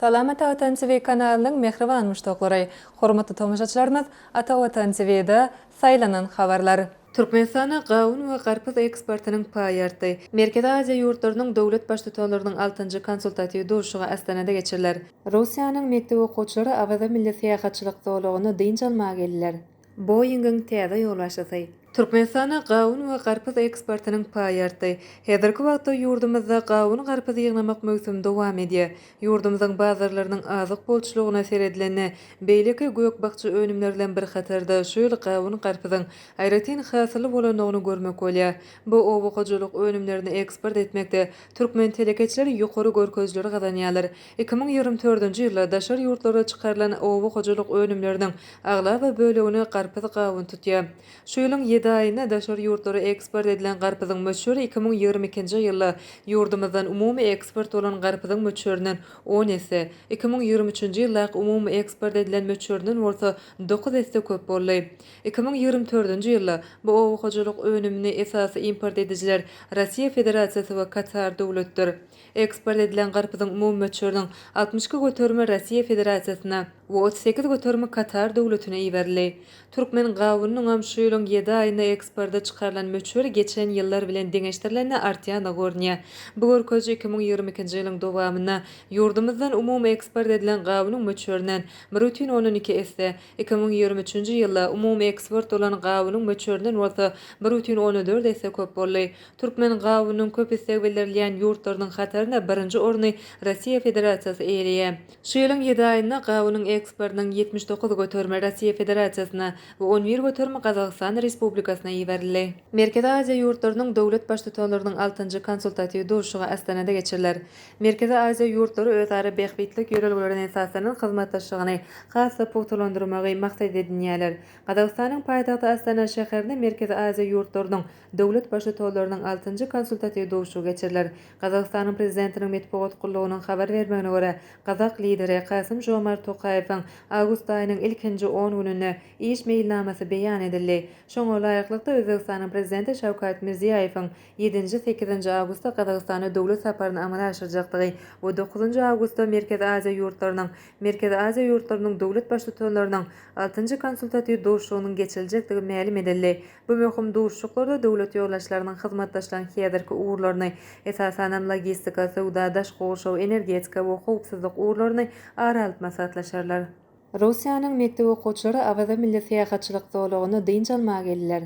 Salam Ata Watan TV kanalynyň mähriban muşdaklary, hormatly tomaşaçylarymyz Ata Watan TVda saýlanan habarlar. Türkmenistana gawun we garpyz eksportynyň paýy artdy. Merkezi Aziýa ýurtlarynyň döwlet Baştutanlarynyň altynjy konsultatiw duşuşygy Astanada geçiriler. Russiýanyň mekdep okuwçylary Awaza milli syýahatçylyk zolagyna dynç almaga geldiler. Boeing-iň täze ýolbaşçysy. Türkmenistana gawun we garpyz eksportynyň paýy artdy. Häzirki wagtda ýurdumyzda gawun-garpyz ýygnamak möwsümi dowam edýär. Ýurdumyzyň bazarlarynyň azyk bolçulygyna seredilende, beýleki gök-bakja önümleri bilen bir hatarda şu ýyl gawun-garpyzyň aýratyn hasylly bolandygyny görmek bolýar. Bu oba hojalyk önümlerini eksport etmekde türkmen telekeçileri ýokary görkezijileri gazanýarlar. Iki müň ýigrimi dördünji ýylda daşary ýurtlara çykarylan oba hojalyk önümleriniň aglaba bölegini garpyz gawun tutýar. Şu ýylyň ýedi aýynda daşary ýurtlara eksport edilen garpyzyň möçberi iki müň ýigrimi ikinji ýylda ýurdumyzdan umumy eksport bolan garpyzyň möçberinden on esse, iki müň ýigrimi üçünji ýyldaky umumy eksport edilen möçberinden bolsa dokuz esse köp boldy. Iki müň ýigrimi dördünji ýylda bu oba hojalyk önümini esasy import edijiler Russiýa Federasiýasy we Katar döwletdir. Eksport edilen garpyzyň umumy möçberiniň altmyş iki göterimi Russiýa Federasiýasyna we otuz sekiz göterimi Katar Döwletine iberildi. Türkmen gawunynyňam şu ýylyň ýedi aýynda eksporta çykarylan möçberi geçen ýyllar bilen deňeşdirilende artýandygy görünýär. Bu görkeziji iki müň ýigrimi ikinji ýylyň dowamynda ýurdumyzdan umumy eksport edilen gawunyň möçberinden bir bütin ondan iki esse, iki müň ýigrimi üçünji ýylda umumy eksport bolan gawunyň möçberinden bolsa bir bütin ondan dört esse köp boldy. Türkmen gawunynyň köp isleg bildirilýän ýurtlarynyň hatarynda birinji orny Russiýa Federasiýasy eýeleýär. Şu ýylyň ýedi aýynda gawunyň eksportynyň ýetmiş dokuz göterimi Russiýa Federasiýasyna we on bir göterimi Gazagystan Respublikasyna iberildi. Merkezi Aziýa ýurtlarynyň döwlet Baştutanlarynyň altynjy konsultatiw duşuşygy Astanada geçiriler. Merkezi Aziýa ýurtlary özara bähbitlik ýörelgelerine esaslanan hyzmatdaşlygyny has-da pugtalandyrmagy maksat edinýärler. Gazagystanyň paýtagty Astana şäherinde Merkezi Aziýa ýurtlarynyň Döwlet Baştutalarynyň altynjy konsultatiw duşuşygy geçiriler. Gazagystanyň Prezidentiniň metbugat gullugynyň habar bermegine görä, gazak Lideri Kasym-Žomart Tokaýewiň awgust aýynyň ilkinji on gününde iş meýilnamasy beýan edildi. Şoňa laýyklykda, Özbegistanyň Prezidenti Şawkat Mirziýaýewiň ýedinji, sekizinji awgustda Gazagystana döwlet saparyny amala aşyrjakdygy we dokuzynjy awgustda Merkezi Aziýa ýurtlarynyň Merkezi Aziýa ýurtlarynyň döwlet Baştutanlarynyň altynjy konsultatiw duşuşygynyň geçiriljekdigi mälim edildi. Bu möhüm duşuşyklarda döwlet ýolbaşçylarynyň hyzmatdaşlygyň häzirki ugurlaryny, esasanam logistika, söwda, daşky gurşaw, energetika we howpsuzlyk ugurlaryny ara alyp maslahatlaşarlar. Russiýanyň mekdep okuwçylary Awaza milli syýahatçylyk zolagyna dynç almaga geldiler.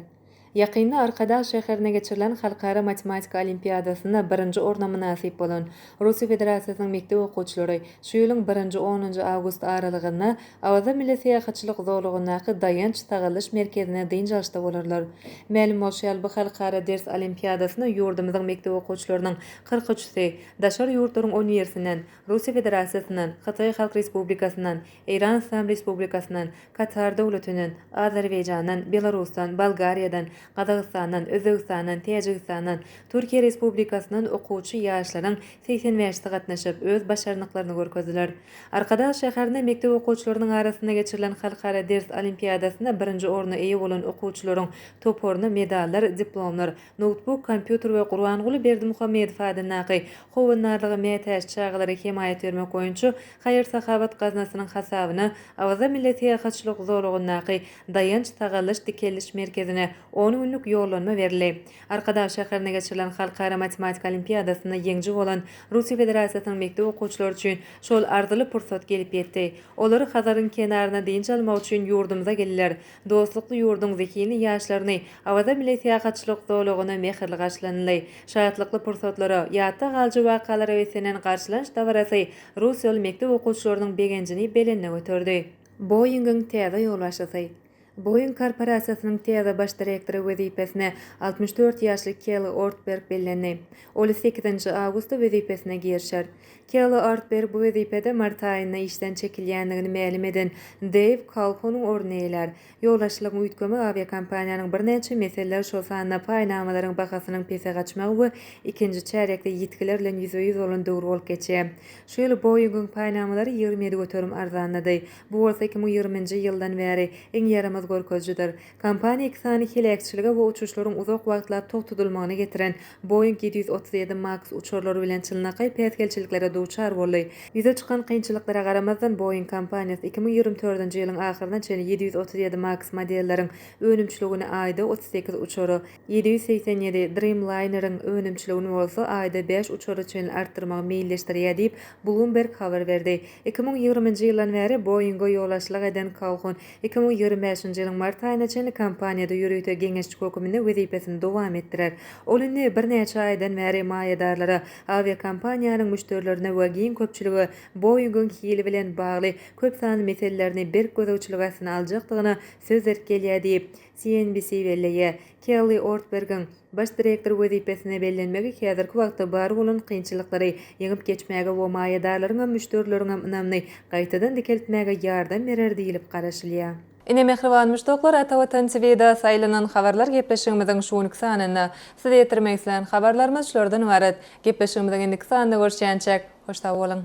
Ýakynda Arkadag şäherinde geçirilen Halkara matematika olimpiadasynda birinji orna mynasyp bolan Russiýa Federasiýasynyň mekdep okuwçylary şu ýylyň birinji-onunjy awgust aralygynda Awaza milli syýahatçylyk zolagyndaky Daýanç-sagaldyş merkezinde dynç alyşda bolarlar. Mälim bolşy ýaly, bu halkara ders olimpiadasyna ýurdumyzyň mekdep okuwçylarynyň kyrk üçüsi, daşary ýurtlaryň on birisinden, Russiýa Federasiýasyndan, Hytaý Halk Respublikasyndan, Eýran Yslam Respublikasyndan, Katar Döwletinden, Azerbaýjandan, Belarusdan, Bolgariýadan, Gazagystandan, Özbegistandan, Täjigistandan, Türkiýe Respublikasyndan okuwçy ýaşlaryň segsen bäşisi gatnaşyp, öz başarnyklaryny görkezdiler. Arkadag şäherinde mekdep okuwçylarynyň arasynda geçirilen halkara ders olimpiadasynda birinji orna eýe bolan okuwçylaryň toparyna medallar, diplomlar, noutbuk, kompýuter we Gurbanguly Berdimuhamedow adyndaky Howandarlyga mätäç çagalara hemaýat bermek boýunça haýyr-sahawat gaznasynyň hasabyna Awaza milli syýahatçylyk zolagyndaky Daýanç-sagaldyş-dikeldiş merkezine on günlük ýollanma berildi. Arkadag şäherinde geçirilen Halkara matematika olimpiadasynda ýeňiji bolan Russiýa Federasiýasynyň mekdep okuwçylary üçin şol arzyly pursat gelip ýetdi. Olar Hazaryň kenarynda dynç almak üçin ýurdumyza geldiler. Dostlukly ýurduň zehinli ýaşlaryny Awaza milli syýahatçylyk zolagynda mähirli garşylanyldy. Şatlykly pursatlara, ýatda galyjy wakalara beslenen garşylanç dabarasy rus ýoly mekdep okuwçylarynyň begenjini belende göterdi. Boeing-iň täze ýolbaşçysy. Boeing korporasiýasynyň täze baş direktory wezipesine altmyş dört ýaşly Kelli Ortberg bellendi. Ol sekizinji awgustda wezipesine girişer. Kelli Ortberg bu wezipede mart aýynda işden çekilýändigini mälim eden Deýw Kalhonyň ornuny eýelär. Ýolbaşçylygyň üýtgemi awiakompaniýanyň birnäçe meseleler, şol sanda paýnamalaryň bahasynyň pese gaçmagy we ikinji çärýekde ýitgiler bilen ýüzbe-ýüz bolan döwür bolup geçýär. Şu ýyl Boeing-iň paýnamalary ýigrimi ýedi göterim arzanlady. Bu bolsa iki müň ýigriminji ýyldan bäri iň ýaramaz görkezijidir. Kompaniýa iki sany heläkçilige we uçuşlaryň uzak wagtlap togtadylmagyna getiren Boeing ýedi ýüz otuz ýedi Max uçarlary bilen çynlakaý päsgelçiliklere duçar boldy. Ýüze çykan kynçylyklara garamazdan, Boeing kompaniýasy iki müň ýigrimi törtünji ýylyň ahyryna çenli ýedi ýüz otuz ýedi Max modelleriň önümçiligini aýda otuz sekiz uçara, Ýedi ýüz segsen ýedi Dreamliner-iň önümçiligini bolsa aýda bäş uçara çenli artdyrmagy meýilleşdirýär diýip, Bloomberg habar berdi. Iki müň ýigriminji ýyldan bäri Boeing-e ýolagçylyk eden Kalhun, iki müň ýigrimi bäşinji ýylyň mart aýyna çenli kompaniýada ýörite geňeşçi höküminde wezipesini dowam etdirer. Ol indi birnäçe aýdan bäri maýadarlara, awiakompaniýanyň müşderilerine we giň köpçülige Boeing-iň hili bilen bagly köp sanly meselelerini berk gözegçilik astyna aljakdygyna söz berip gelýär diýip, CNBC belleýär. Kelli Ortbergiň baş direktor wezipesine bellenmegi häzirki wagtda bar bolan kynçylyklary ýeňip geçmäge we maýadarlaryňam, müşderileriňem ynamyny gaýtadan dikeltmäge ýardam berer diýlip garaşylýar. Ine mähriban muşdaklar Ata Watan TVda saýlanan habarlar gepleşigimiziň şu günki sanynda size ýetirmek islän habarlarymyz şulardan ybarat. Gepleşigimiziň indiki sanynda görüşýänçäk hoş sag boluň.